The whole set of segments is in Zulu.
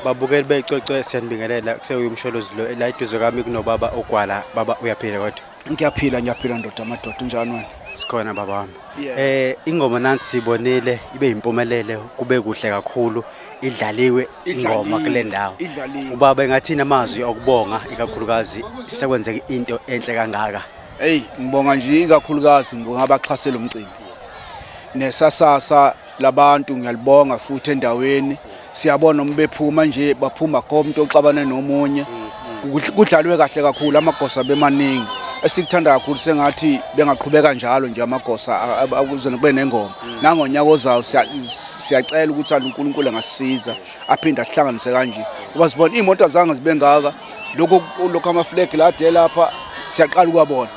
babukeli becwecwe siyanibingelela kusewuye umsholozi lo la eduze kami kunobaba ogwala baba uyaphila kodwa ngiyaphila ngiyaphila ndoda amadoda unjani wena sikhona baba wami eh ingoma nansi sibonile ibe impumelele kube kuhle kakhulu idlaliwe ingoma kule ndawo ubaba engathini amazwi okubonga ikakhulukazi sekwenzeka into enhle kangaka Hey ngibonga nje ikakhulukazi ngibonga abaxhasela umcimbi nesasasa labantu ngiyalibonga futhi endaweni siyabona uma bephuma nje baphuma komuntu oxabane nomunye kudlalwe kahle kakhulu amagosa bemaningi esikuthanda kakhulu sengathi bengaqhubeka njalo nje amagosa akuze kube nengoma nangonyaka ozayo siyacela ukuthi uNkulunkulu angasisiza aphinde asihlanganise kanje uba sibona iy'moto zange zibe ngaka lokhu lokhu amafulegi lade lapha siyaqala ukuwabona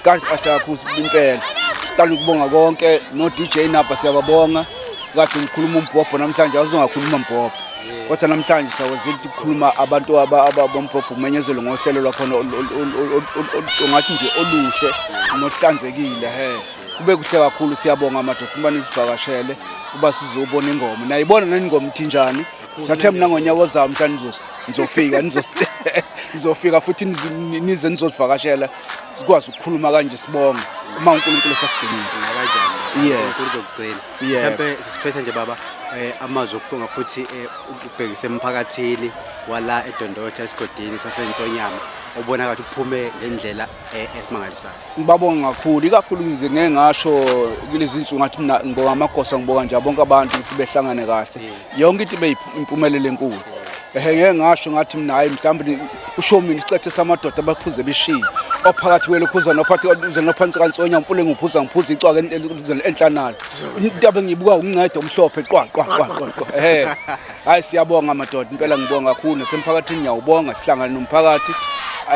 kahle kahle kakhulu impela siqala ukubonga konke no-d j nabha siyababonga kade ngikhuluma umbhobho namhlanje awuzongakhuluma mbhobho kodwa namhlanje siyawazile ukuthi kukhuluma abantu abombhobho umenyezelwe ngohlelo lwakhona ungathi nje oluhle nohlanzekile he kube kuhle kakhulu siyabonga amadoda uma nizivakashele uba sizobona ingoma nayibona nani ingoma ithinjani sathe mna ngonyaka ozayo mhla nizofika nizofika futhi nize nizosivakashela sikwazi ukukhuluma kanje sibonge uma uNkulunkulu sasigcinile kanjani yeah kuzokugcina mhlambe sisiphethe nje baba eh amazwi okuqonga futhi eh, ubhekise emphakathini wala edondotha esigodini sasensonyama obona kathi uphume ngendlela eh, esimangalisayo ngibabonga kakhulu ikakhulu ngize ngeke ngasho kulezi nsuku ngathi mina ngibonga amagosa ngibonga nje bonke abantu ukuthi behlangane kahle yonke into ibe impumelelo enkulu ehe ngeke ngasho ngathi mina hayi mhlawumbe usho mina isicethe samadoda abaphuze beshiye ophakathi kwelokhuza nophathi uze nophansi kansonya mfule ngiphuza ngiphuza icwaka enhlanalo into abengiyibuka umncede omhlophe qwa qwa qwa qwa ehe Hayi siyabonga madoda impela ngibonga kakhulu nasemphakathini ngiyawubonga sihlangane nomphakathi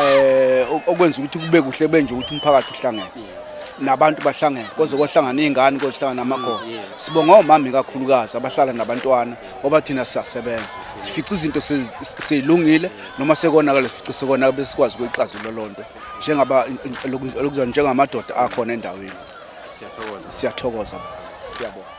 eh okwenza ukuthi kube kuhle benje ukuthi umphakathi uhlangene nabantu bahlangene koze kohlangana izingane kohlangana amakhosi sibonga omama kakhulukazi abahlala nabantwana ngoba thina siyasebenza sifica izinto sezilungile noma sekonakala sifica sekona bese sikwazi ukuyixazula lonto njengaba lokuzwa njengamadoda akhona endaweni siyathokoza siyathokoza siyabonga